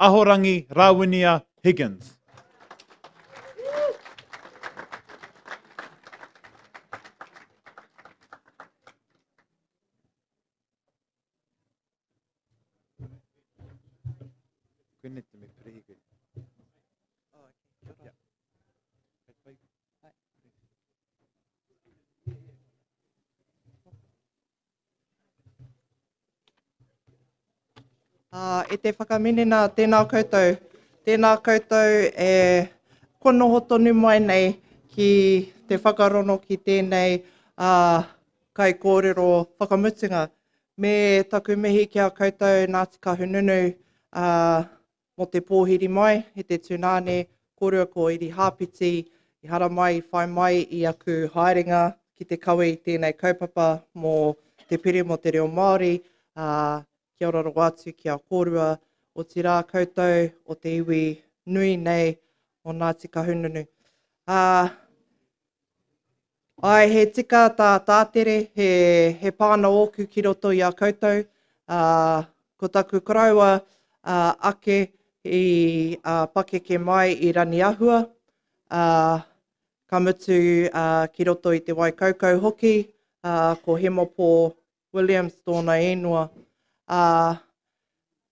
Ahorangi Rawinia Higgins. Koene te me perehi koe. Oh, okay. Kia ora. Uh, e te whakaminina, tēnā koutou. Tēnā koutou e konoho tonu mai nei ki te whakarono ki tēnei uh, Kaikōrero whakamutunga, me taku mihi ki a koutou Ngāti Kahungunu ā, mō te pōhiri mai i te tūnāne kōrua ko Irihāpeti i haramai i whai mai i aku haerenga ki te kawe i tēnei kaupapa mō te pire mō te reo Māori ā, kia ora rawa atu ki a kōrua otirā koutou o te iwi nui nei o Ngāti Kahungunu ā, Ae, he tika tā Tātere, he, he pāna ōku ki roto i a koutou, ā, ko taku koroua ā, ake i ā, pakeke mai i Raniahua, ā, ka mutu ā, ki roto i Te Waikaukau hoki, ā, ko Hemopō Williams tōna īngoa, ā,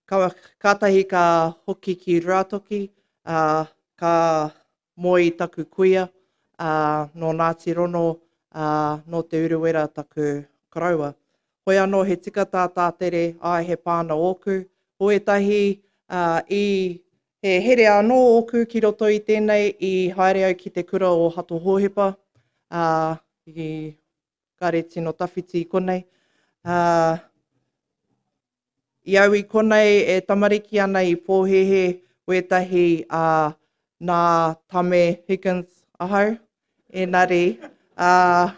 ka, kātahi ka hoki ki Ruatoki, ā, ka Moe i taku kuia, ā, nō Ngāti Rono, ā, nō Te Urewera taku koroua. Hoi anō he tika tā Tātere, āe he pāna ōku, ko ētahi, ā, i. He here anō ōku ki roto i tēnei i haere au ki te kura o Hato Hōhepa, ā, i. kare tino tawhiti i konei. Uh, I au i konei e tamariki ana i pōhehe wētahi a uh, nā Tame Higgins ahau. Enari, uh,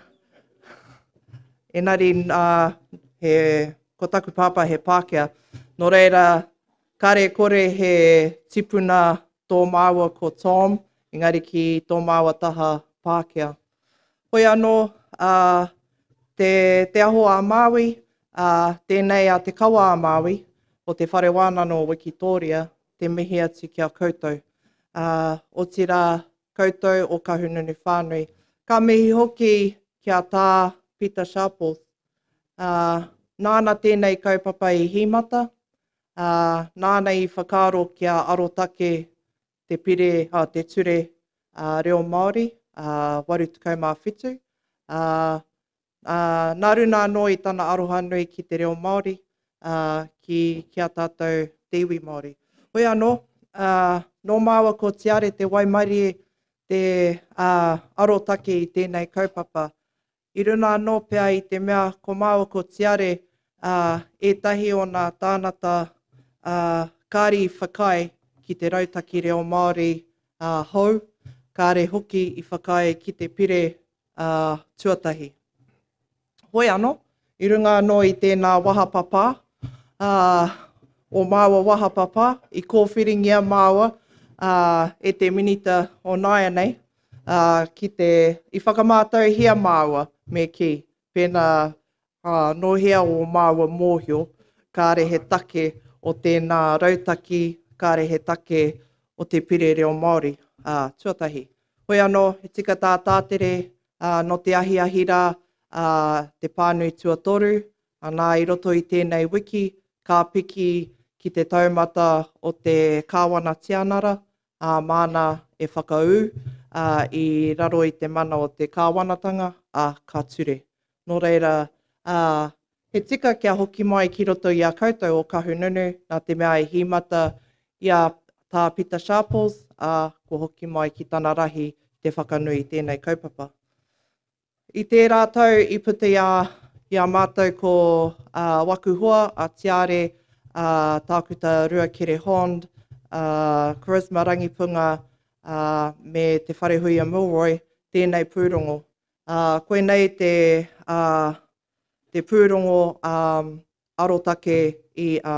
enari uh, he, ko taku pāpā he Pākehā. Nō reira, kare kore he tipuna tō māua ko Tom, engari ki tō māua taha Pākehā. Hoi anō, ā, te, te aho a Māui, ā, tēnei a Te Kawa a Māui, o Te Whare Wānano o Wikitōria, te mihi atu ki a koutou. Ā, otirā, koutou o Kahungunu whānui. Ka mihi hoki ki a Tā Pita Sharples. Ā, nāna tēnei kaupapa i hīmata, ā, nāna i whakaaro kia arotake te pire, oh, te ture uh, reo Māori, uh, 87, uh, uh, nā runa anō i tana aroha nui ki te reo Māori, uh, ki, ki a tātou te iwi Māori. Hoi anō, uh, nō māua ko Tiare te waimarie te uh, arotake i tēnei kaupapa, i runa anō pea i te mea ko māua ko Tiare ā, ētahi o nā tānata ā, kāri i whakaae ki te Rautaki Reo Māori ā, hou, kāre hoki i whakaae ki te pire ā, tuatahi. Hoi anō, i runga anō i tēnā wahapapā ā, o māua wahapapā, i kōwhiringia māua ā, e te Minita o nāianei, ā, ki te, i whakamātauhia māua, me kī, pēnā, ā, nō hea ō māua mōhio, kāre he take o tēnā rautaki, kāre he take o te Pire Reo Māori, ā, tuatahi. Hoi anō, he tika tā Tātere, ā, nō te ahiahi rā, ā, te pānui tuatoru, anā, i roto i tēnei wiki, ka piki ki te taumata o te Kāwana Tianara, ā, māna e whakaū, ā, i raro i te mana o te Kāwanatanga, ā, ka ture. Nō reira, ā, he tika kia hoki mai ki roto i a koutou ō Kahungunu, nā te mea e hīmata i a Tā Pita Sharples, ā, kua hoki mai ki tana rahi te whakanui i tēnei kaupapa. I tērā tau i puta i a, i a mātou ko ā waku hoa, a Tiare, ā Tākuta Ruakere Hond, ā Charisma Rangipunga, ā, me Te Wharehuia Milroy, tēnei pūrongo. Ā, koinei te, ā, te pūrongo, ā, arotake i, ā.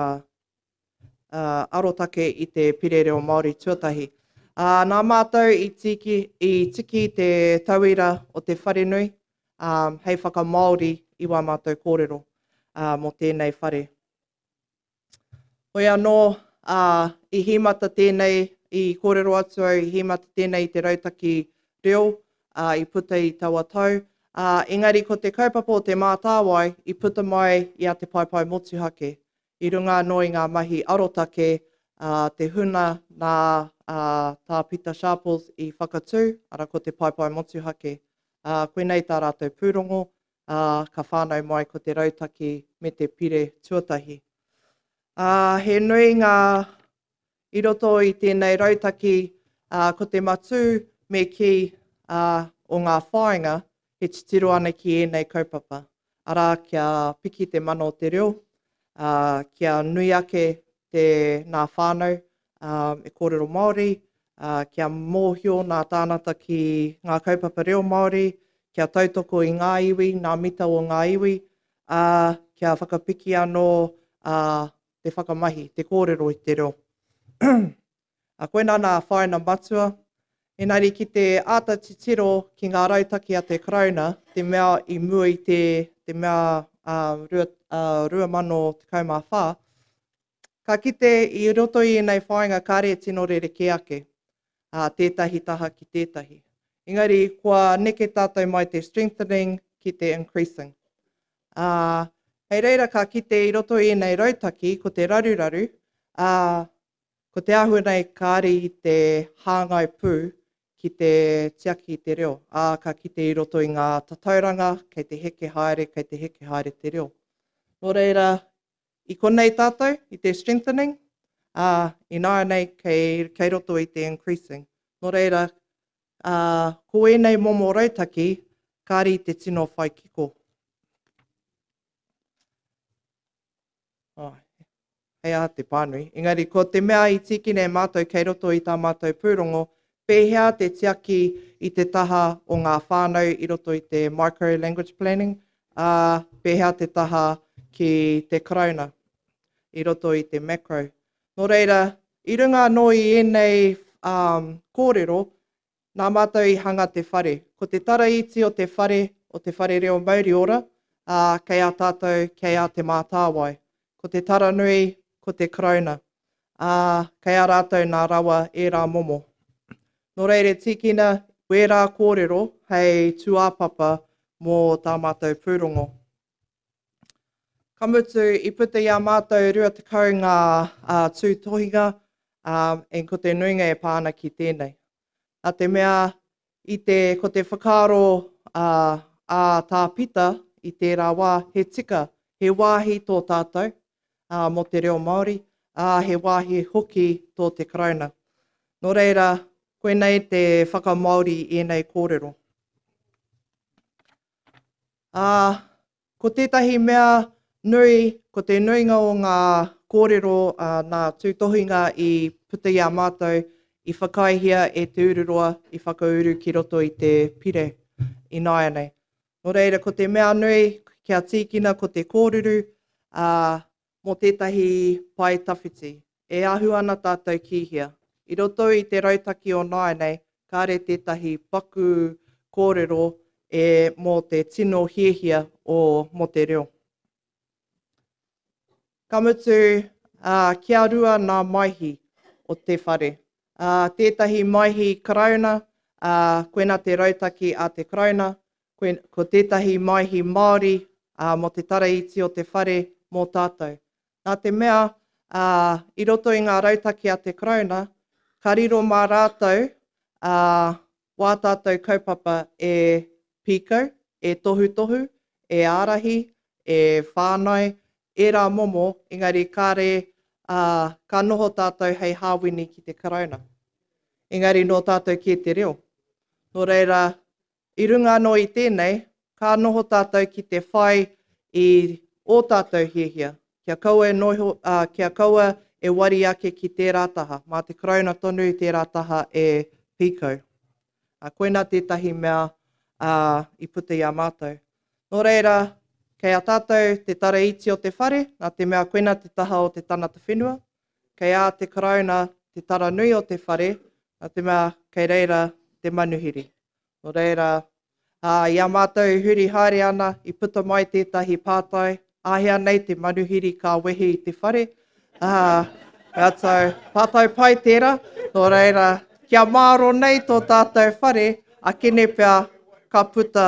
arotake i te Pire Reo Māori tuatahi. Ā, nā mātou i tiki, i tiki te tauira o te wharenui ā, hei whakamāori i wā mātou kōrero ā, mō tēnei whare. Hoi anō, ā, i hīmata tēnei, i kōrero atu au, i hīmata tēnei i te rautaki reo ā, i puta i taua tau, ā, engari ko te kaupapa o Te Mātāwai i puta mai i a Te Paepae Motuhake, i runga anō i ngā mahi arotake a te huna nā a Tā Pita Sharples i whakatū, arā ko te Paepae Motuhake. Ā, koinei tā rātou pūrongo, ā, ka whānau mai ko te rautaki me te pire tuatahi. Ā, he nui ngā I roto i tēnei rautaki, ko te matū me kī o ngā whāinga, he titiro ana ki ēnei kaupapa, arā, kia piki te mana o te reo, kia nui ake te nā whānau e kōrero Māori, kia mōhio nā tānata ki ngā kaupapa reo Māori, kia tautoko i ngā iwi, nā mita o ngā iwi, ā, kia whakapiki anō te whakamahi, te kōrero i te reo. A koinā nā whāina matua, engari ki te āta titiro ki ngā rautaki a te Karauna, te mea i mua i te, te mea a, rua, a, 2014, ka kite i roto i ēnei whāinga kāre e tino rerekē ake a, tētahi taha ki tētahi. Engari kua neke tātou mai te strengthening ki te increasing. ā, hei reira ka kite i roto i ēnei rautaki ko te raruraru, ā, ko te āhua nei kāre i te hāngai pū ki te tiaki i te reo, ā, ka kite i roto i ngā tatauranga kei te heke haere, kei te heke haere te reo. Nō reira, i konei tātou, i te strengthening, ā, ināianei kei, kei roto i te increasing. Nō reira, Ā, ko ēnei momo rautaki, kāre i te tino whai kiko. Oh, hei aha te pānui. Engari, ko te mea i tīkina e mātou kei roto i tā mātou pūrongo, pēhea te tiaki i te taha o ngā whānau i roto i te Micro Language Planning, ā, pēhea te taha ki te Karauna i roto i te Macro. Nō reira, i runga anō i ēnei kōrero, nā mātou i hanga te whare. Ko te tara iti o te whare, o te whare reo mauri ora, ā, kei a tātou, kei a Te Mātāwai. Ko te tara nui, ko te Karauna, ā, kei a rātou nā rawa ērā momo. Nō reira e tīkina wērā kōrero hei tūāpapa mō tā mātou pūrongo. Ka mutu, i puta i a mātou 20 ngā uh, tūtohinga, uh, e ko te nuinga e pā ana ki tēnei. Nā te mea, i te, ko te whakaaro uh, a tā Pita i tērā wā, he tika, he wāhi tō tātou uh, mō te reo Māori, ā, uh, he wāhi hoki tō te karauna. Nō reira, koinei te whakamaori i ēnei kōrero. Ā, ko tētahi mea nui, ko te nuinga o ngā kōrero ā nā tūtohinga i puta i a mātou, i whakaaehia e Te Ururoa i whakauru ki roto i te pire ināianei. Nō reira, ko te mea nui, kia tīkina ko te kōruru, ā, mō tētahi pae tawhiti. E ahu ana tātou ki hea? I roto i te rautaki o nāianei, kāre tētahi paku kōrero e mō te tino hiahia o mō te reo. Ka mutu, ā, kia rua nā Maihi o te whare. Ā, tētahi Maihi Karauna, ā, koina te rautaki a te Karauna, Ko tētahi Maihi Māori mō te tara iti o te whare mō tātou. Nā te mea, i roto i ngā rautaki a te Karauna, ka riro mā rātou wā tātou kaupapa e pīkau, e tohutohu, e ārahi, e whānai, ērā momo, engari kāre ka noho tātou hei hāwini ki te Karauna. Engari nō tātou kē te reo. Nō reira, I runga anō i tēnei, ka noho tātou ki te whai i ō tātou hiahia, kia kaua e noho, ā, kia kaua e wari ake ki tērā taha, mā te Karauna tonu tērā taha e pīkau. Ā, koinā tētahi mea, ā, i puta i a mātou. Nō reira, kei a tātou te tara iti o te whare, nā te mea koinā te taha o te tangata whenua, kei ā te Karauna te tara nui o te whare, nā te mea kei reira te manuhiri. Nō reira, ā, i a mātou e huri haere ana, i puta mai tētahi pātai, Āhea nei te manuhiri ka wehe i te whare? Ā, ratou, pātai pai tērā, nō reira, kia māro nei tō tātou whare, a Kene pea, ka puta,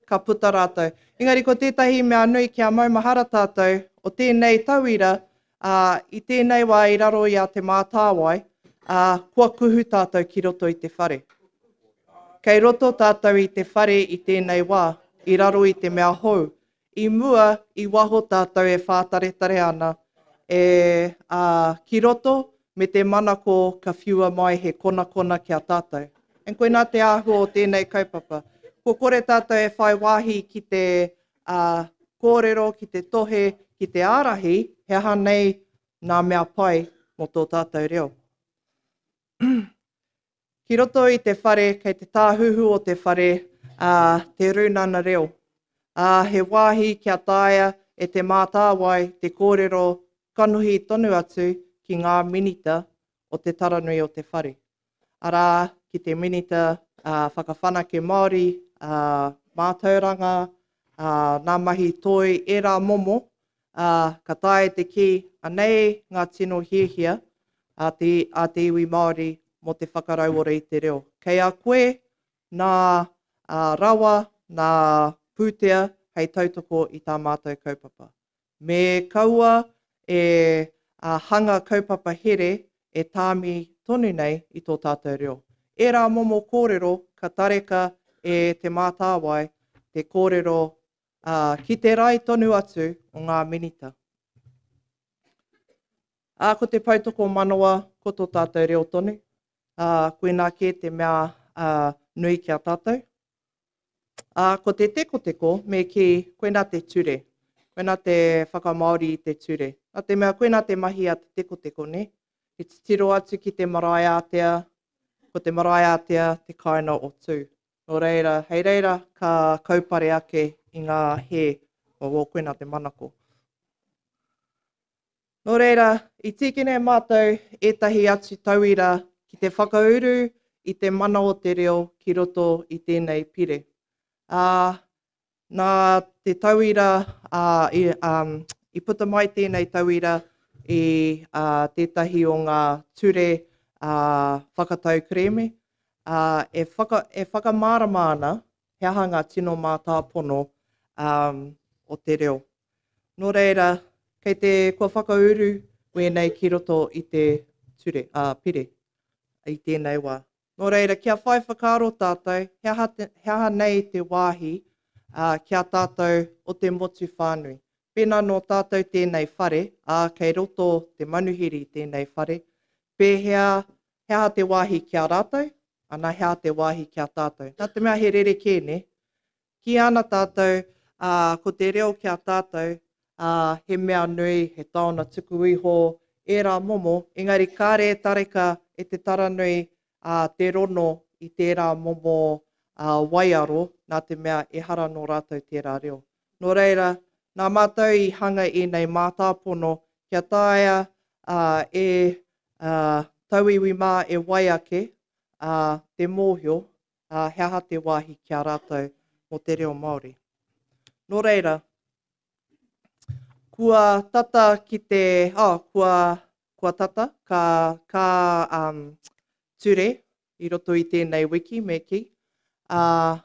ka puta rātou. Engari ko tētahi mea nui kia maumahara tātou, o tēnei tauira, Ā, i tēnei wā i raro i a Te Mātāwai, ā, kua kuhu tātou ki roto i te whare. Kei roto tātou i te whare i tēnei wā, i raro i te mea hou. I mua, i waho tātou e whātaretare ana, e, ā, ki roto, me te manako ka whiua mai he konakona ki a tātou. And koinā te āhua o tēnei kaupapa. Kua kore tātou e whai wāhi ki te, ā, kōrero ki te tohe, ki te ārahi he aha nei ngā mea pai mō tō tātou reo. Ki roto i te whare, kei te tāhuhu o te whare ā, te Rūnana Reo, ā, he wāhi kia taea e Te Mātāwai te kōrero kanohi tonu atu ki ngā Minita o te Taranui o te Whare. arā, ki te Minita Whakawhanake Māori, Mātauranga, Ngā Mahi Toi, ērā momo, ka taea te kī, anei ngā tino hiahia a te iwi Māori mō te whakarauora i te reo. Kei a koe nā rawa, nā pūtea hei tautoko i tā mātou kaupapa. Me kaua e hanga kaupapa here e tāmi tonu nei i tō tātou reo. Ērā momo kōrero ka tareka e Te Mātāwai te kōrero ki te rae tonu atu o ngā Minita. Ā, ko te poutokomanawa ko tō tātou reo tonu, ā, koinā kē te mea nui ki a tātou. Ā, ko te tekoteko, me kī, koinā te ture, koinā te whakamāori i te ture. Nā te mea koinā te mahi a te tekoteko, nē? He titiro atu ki te marae ātea, ko te marae ātea te kāina o Tū. Nō reira, hei reira ka kaupare ake i ngā hē, o, koinā te manako. Nō reira, i tīkina e mātou ētahi atu tauira ki te whakauru i te mana o te reo ki roto i tēnei pire, ā, nā te tauira, ā, i, ā, i puta mai tēnei tauira i, ā, tētahi o ngā ture, ā, whakatau kerēme, ā, e, whaka, e whakamārama ana he aha ngā tino mātāpono, ā, o te reo. Nō reira, kei te, kua whakauru wēnei ki roto i te ture, ā, pire, i tēnei wā. Nō reira, kia whai whakaaro tātou, he aha, he aha nei te wāhi ā, ki a tātou o te motu whānui. Pēnā nō tātou tēnei whare, ā, kei roto te manuhiri tēnei whare, pēhea, he aha te wāhi ki a rātou, ana he aha te wāhi ki a tātou. Nā te mea he rerekē, nē? Kīia ana tātou, ā, ko te reo ki a tātou, ā, he mea nui, he taona tuku iho ērā momo, engari kāre e tareka e te taranui, ā, te rono i tērā momo, ā, waiaro, nā te mea ehara nō rātou tērā reo. Nō reira, nā Mātou i hanga ēnei mātāpono kia taea, ā, e, ā, tauiwi mā e wai ake, ā, te mōhio, ā, he aha te wāhi ki a rātou mō te reo Māori. Nō reira, kua tata ki te, oh, kua, kua tata, ka, ka um, ture i roto i tēnei wiki, me ki. Uh,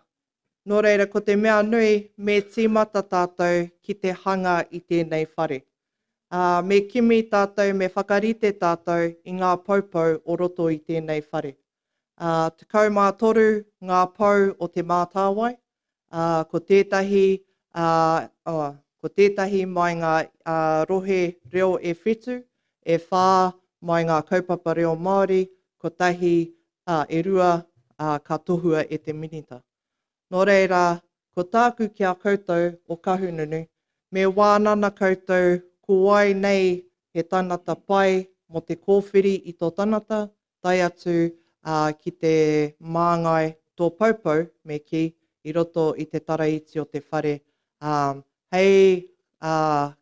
nō reira, ko te mea nui, me tīmata tātou ki te hanga i tēnei whare. Uh, me kimi tātou, me whakarite tātou i ngā poupou o roto i tēnei whare. Ā, tekau mā toru ngā pou o Te Mātāwai, ā, ko tētahi, ā, oh, ko tētahi mai ngā, ā, rohe reo e whitu, e whā mai ngā kaupapa reo Māori, kotahi, ā, e rua, ā, ka tohua e te Minita. Nō reira, ko tāku ki a koutou o Kahungunu, me wānana koutou ko wai nei he tangata pai mō te kōwhiri i tō tangata, tae atu ā ki te māngai tō Poupou me kī, i roto i te tara iti o te whare ā hei ā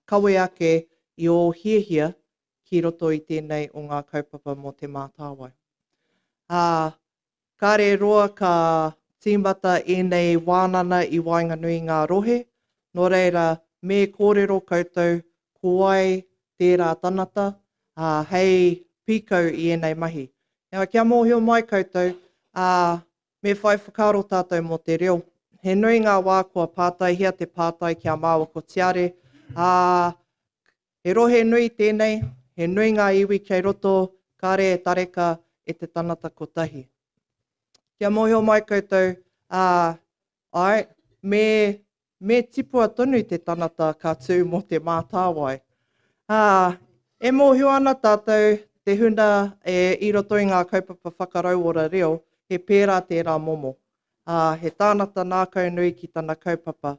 kawe ake i ō hiahia ki roto i tēnei o ngā kaupapa mō Te Mātāwai. Ā, kare roa ka tīmata ēnei wānana i waenganui i ngā rohe, nō reira me kōrero koutou ko wai tērā tanata, ā, hei pīkau i ēnei mahi. Nā, kia mōhio mai koutou, ā, me whai whakaaro tātou mō te reo. He nui ngā wā kua pātaihia te pātai kia māua ko Tiare, ā, he rohe nui tēnei, he nui ngā iwi kei roto, kāre e tareka e te tangata kotahi. Kia mōhio mai koutou, ā, Āe, me, me tipua tonu te tangata ka tū mō te mātāwai. Ā, e mōhio ana tātou, te huna e, i roto i ngā kaupapa whakarauora reo, he pērā tērā momo. Ā, he tānata nākaunui ki tana kaupapa.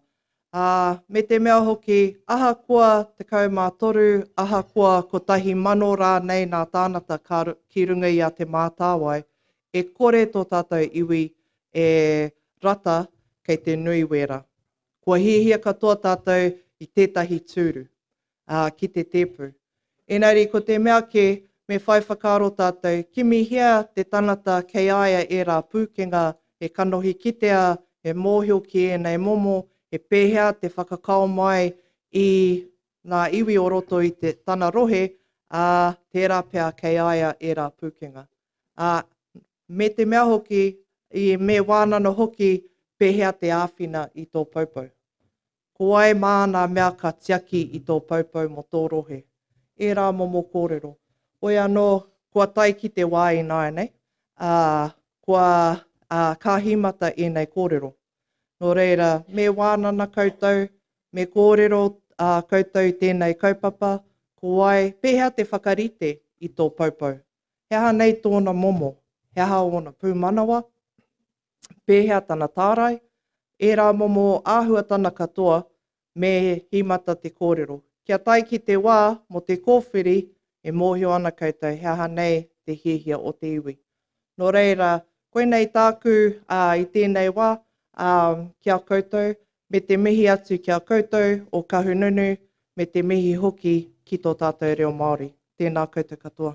Ā, me te mea hoki, ahakoa 13, ahakoa 1,000 rānei nā tānata ka, ki runga i a Te Mātāwai, E kore tō tātou iwi e rata kei te nui wēra. Kua hiahia katoa tātou i tētahi tūru, ā, ki te tēpu. Ēngari ko te mea kē, me whai whakaaro tātou, kimihia te tangata kei a ia ērā pūkenga e kanohi kitea, e mōhio ki ēnei momo, he pēhea te whakakao mai i ngā iwi o roto i te, tana rohe, ā, tērā pea kei a ia ērā pūkenga. ā, me te mea hoki, i me wānana hoki pēhea te āwhina i tō poupou. Ko wai māna mea ka tiaki i tō poupou mō tō rohe? Ērā momo kōrero. Hoi anō, kua tae ki te wā ināianei, ā, kua kāhimata ēnei kōrero. Nō reira, me wānana koutou, me kōrero koutou i tēnei kaupapa, ko wai, pēhea te whakarite i tō poupou He aha nei tōna momo? He aha ōna pūmanawa? Pēhea tana tārai? Ērā momo āhuatana katoa me hīmata te kōrero. Kia tae ki te wā mō te kōwhiri, e mōhio ana koutou he aha nei te hiahia o te iwi. Nō reira, koinei tāku i tēnei wā ki a koutou, me te mihi atu ki a koutou o Kahununu, me te mihi hoki ki tō tātou reo Māori. Tēnā koutou katoa.